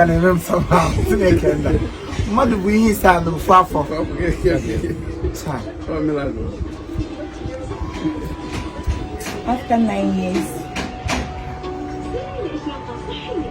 ka na-eme m sọba Chineke nna mmadụ bu ihe ise n'ofu afọ After nine years,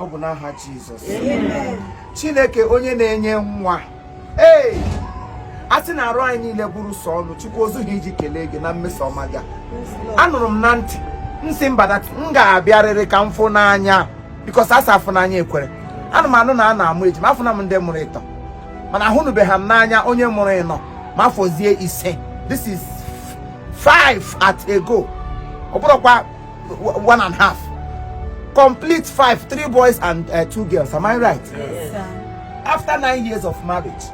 ọ bụ n'aha Jizọs Chineke onye na-enye nwa ee a sị na arụ anyị niile bụrụ sọ ọnụ Chukwu o zughị iji kelee gị na mmeso ọma gị anụrụ m na ntị m sị mba that m ga-abịarịrị ka m fụ n'anya because a sị afụ n'anya ekwere ana m anụ na a na-amụ ejima afụna m ndị mụrụ ịtọ mana ahụnụbeghị m n'anya onye mụrụ ịnọ ma afọzie ise this is five at a go ọ bụrọkwa one and half complete five three boys and uh, two girls am i right yes, sir. after nine years of marriage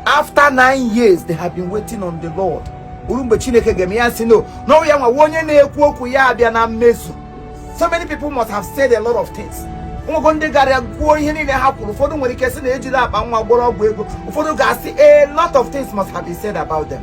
after nine years they have been waiting on the lord o ruo mgbe Chineke ga-eme ya sị no na ọ wụ ya nwa onye na-ekwu okwu ya abịa na mmezu so many people must have said a lot of things nwego ndị gara kwuo ihe niile ha kwuru ụfọdụ nwere ike sị na e jiri akpa nwa gwọrọ ọgwụ ego ụfọdụ ga-asị a lot of things must have been said about them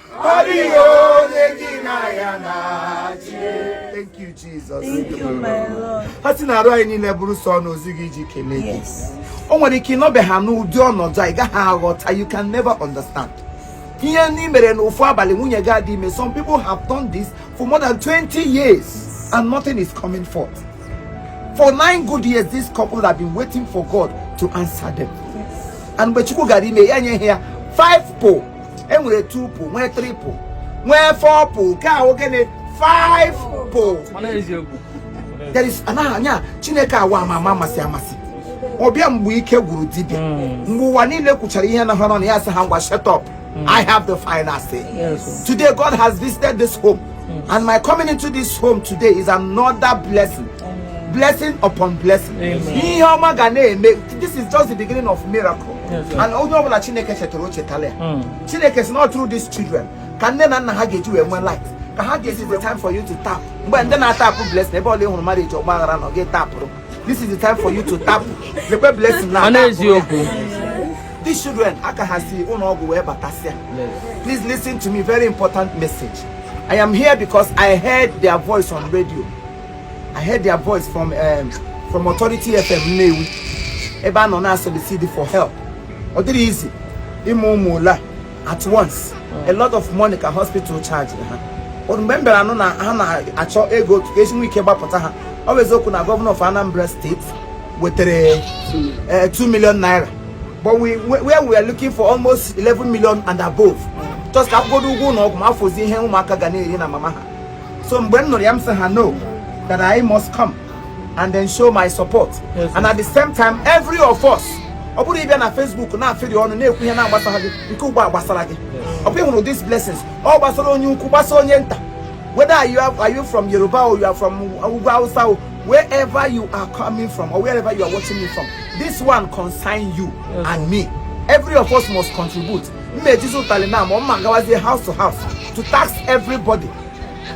Thank you, Jesus. Thank you, my Lord. a sị na arụ anyị niile bụrụ sọ ọnụ o zughị iji kelee gị Yes. o nwere ike ị nọbeghị n'ụdị ọnọdụ a ị gaghị aghọta you can never understand ihe ndị mere na ofu abalị nwunye gị adị ime some people have done this for more than 20 years and nothing is coming forth for nine good years this couple have been waiting for God to answer them and mgbe Chukwu gara ime ya nye ha ya five po e nwere two po nwee three po nwee four po nke a wụ gịnị five po there is a naghị anwa Chineke anwa ama ama amasị amasị ọ bịa mgbe ike gwụrụ dibịa hmm. mgbe ụwa niile kwuchara ihe nọ ha n'ọnụ ya sị ha ngwa shut up hmm. I have the final say. Yes. Today, God has visited this home. Mm. And my coming into this home today is another blessing. Amen. Blessing upon blessing. Ihe ọma ga na-eme. This is just the beginning of miracle. Yes, and onye ọbụla Chineke chetara o chetala ya. Mm. Chineke sị na through these children ka nne na nna ha ga-eji wee nwee life. Ka ha ga-esi the time for you to tap. Mgbe ndị na-atapụ blessing ebe ọbụla ị hụrụ marriage ọgbaghara na ọ ga-etapụrụ. This is the time for you to tap. Lekwe blessing na-atapụ. These children aka ha si ụlọ ọgwụ wee batasịa. Please listen to me very important message. I am here because I heard their voice on radio. I heard their voice from um, from Authority FM Nnewi ebe a nọ na-solicit for help. Ọ dịrọ easy ịmụ ụmụ ole at once. A lot of money ka hospital charge ha. Ọ mgbe m bịara anụ na ha na-achọ ego ka e si nwee ike gbapụta ha. Ọ bụ eziokwu na gọvanọ of Anambra steeti wetara 2 eh, million naira but we where we are looking for almost 11 million and above just ka a kwụgodu ụgwọ ụlọ ọgwụ ma fọzie ihe ụmụaka ga na-eri na mama ha so mgbe m nụrụ ya m sị ha no that I must come and then show my support yes, and at the same time every of us ọ bụrụ ị bịa na Facebook na-afịrị ọnụ na-ekwu ihe na-agbasa gị nke ugbo a gbasara gị ọ bụ ị hụrụ these blessings ọ gbasara onye ukwu gbasa onye nta whether are you, are you from Yoruba or you are from Ugwu Hausa wherever you are coming from or wherever you are watching me from this one concern you yes. and me every of us must contribute mma ejizi ụtalị na ma mma gawazie house to house to tax everybody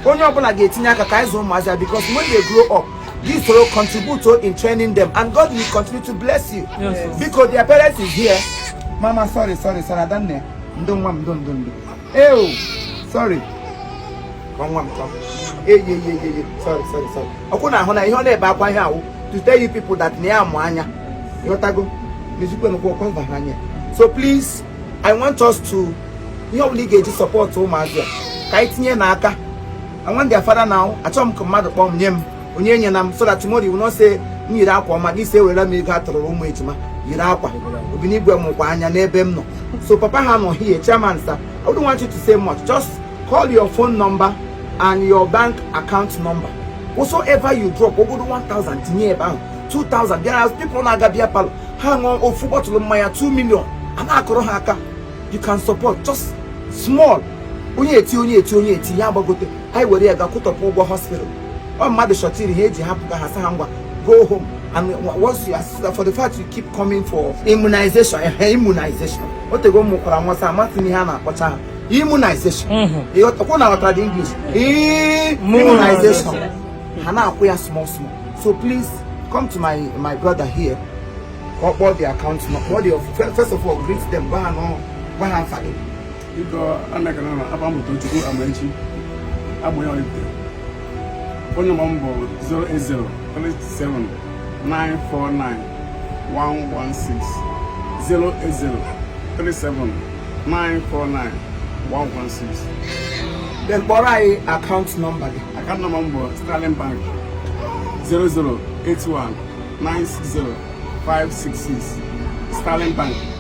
onye ọbụla ga-etinye aka ka anyị zụ ụmụazị because when they grow up this will contribute to in training them and God will continue to bless you yes. because their parents is here mama sorry sorry sorry adanne ndo nwa m ndo ndo ndo Ew, sorry. Ka nwa m ka. Eye eye eye, sorry sorry sorry. Ọ kwa unu ahụna ihe ọ na-ebe akwa ihe ahụ to tell you people that na ya mụ anya. Ịghọtago? N'ezikwe n'ụkwụ ọkwa mba anya. So please, I want us to ihe ọ bụla ị ga-eji support ụmụazị a ka anyị tinyenụ aka. I want their father now. Achọghị m ka mmadụ kpọọ m nye m. onye enyela m so that tomorrow you will not say m yiri akwa ọma gị sị ewere m ego a tụụrụ ụmụ ejima yiri akwa Obinigwe mụkwa anya n'ebe m nọ so papa ha nọ here chairman sir I wouldn't want you to say much just call your phone number and your bank account number whatsoever you drop ọ bụgodu 1000 tinye ebe ahụ 2000 there are people na-aga beer parlour ha ṅụọ ofu bọtụlụ mmanya 2 million a na-akụrụ ha aka you can support just small onye eti onye eti onye eti ya agbagote anyị were ya ga kwụtọpụ ụgwọ hospital ọ mmadụ shọtiri ha e ji hapụga ha sị ha ngwa go home and once you assist for the fact you keep coming for immunization eh, eh, immunization o tego m mụkwara nwa so amazị m ihe a na-akpọcha ha immunization ọ kwa unu ghọtara the english immunization ha na-akwụ ya small small so please come to my my brother here ka ọ kpọọ the account number first of all greet them gwa ha nọ gwa ha afa gị ịkọ anakana na aba mmụta Chukwu Amaechi agbụghị ọlite phone number m bụ 08037949116 08037949116 then kpọrọ anyị akaụntụ nọmba gị akaụntụ nọmba m bụ Sterling Bank 0081960566 Sterling Bank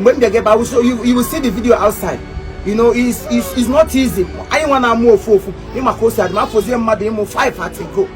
mgbe m bịa gebe awụsa you will see the video outside you know it's, it's, it's not easy anyị nwa na-amụ ofu ofu ịma ka o si adị ma ya fọzie mmadụ ịmụ 5 at a go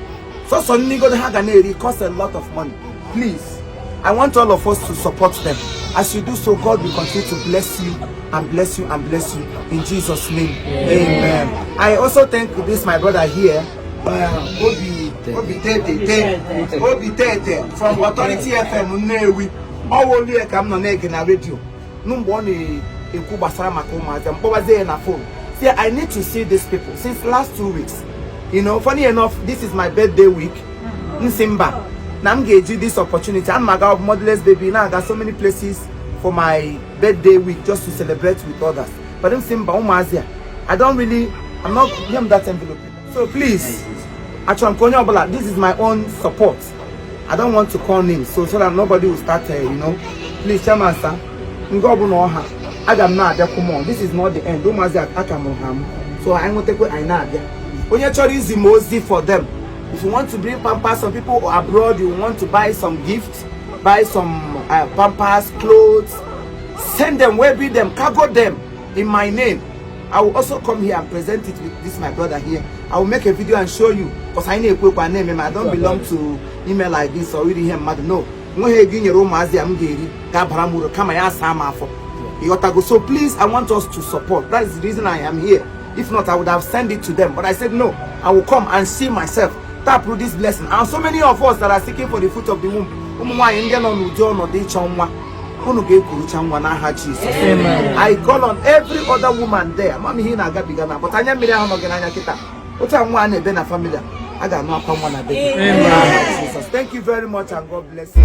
sọsọ nni godo ha ga na-eri cost a lot of money please i want all of us to support them as you do so god will continue to bless you and bless you and bless you in jesus name amen, amen. i also thank this my brother here uh, obi obi tete obi tete from authority fm nnewi ọ wụ ya ka m nọ na-ege na redio nụ mgbe ọ na-ekwu gbasara maka ụmụazị m kpọbazie ya na fon sị i need to see these people since last two weeks you know funny enough this is my birthday week m sị mba na m ga-eji this opportunity ana m aga motherless baby na-aga so many places for my birthday week just to celebrate with others but m sị mba ụmụazị a i don't really i'm not nye m that envelope so please achọrọ m ka onye ọbụla this is my own support I don't want to call names so so that nobody will start uh, you know please chairman sir nke ọbụla ọ ha aga m na-abịakwu m this is not the end ụmụazị a ka mụrụ ha amụ so anyị nwetakwa anyị na-abịa onye chọrọ izi m ozi for them if you want to bring pampers some people abroad you want to buy some gifts buy some uh, pampers clothes send them waybill them cargo them in my name I will also come here and present it with this my brother here. I will make a video and show you because I know my name. I don't belong to ime ihe like this or iri ihe mmadụ. No. o nweghị ego i nyere ụmụazị a m ga-eri ga-abara m uru kama ya asaa m afọ ị ghọtago so please i want us to support that is the reason i am here if not i would have sent it to them but i said no i will come and see myself tap through this blessing and so many of us that are seeking for the fruit of the womb ụmụ nwaanyị ndị nọ n'ụdị ọnọdụ ịchọ nwa unu ga-ekurucha nwa n'aha Jizọs I call on every other woman there ama m ihe ị na-agabiga na but anya mmiri ahụ nọ gị n'anya kịta otu a nwa a na-ebe na famili a a ga-anụ akwa nwa na be gị thank you very much and God bless you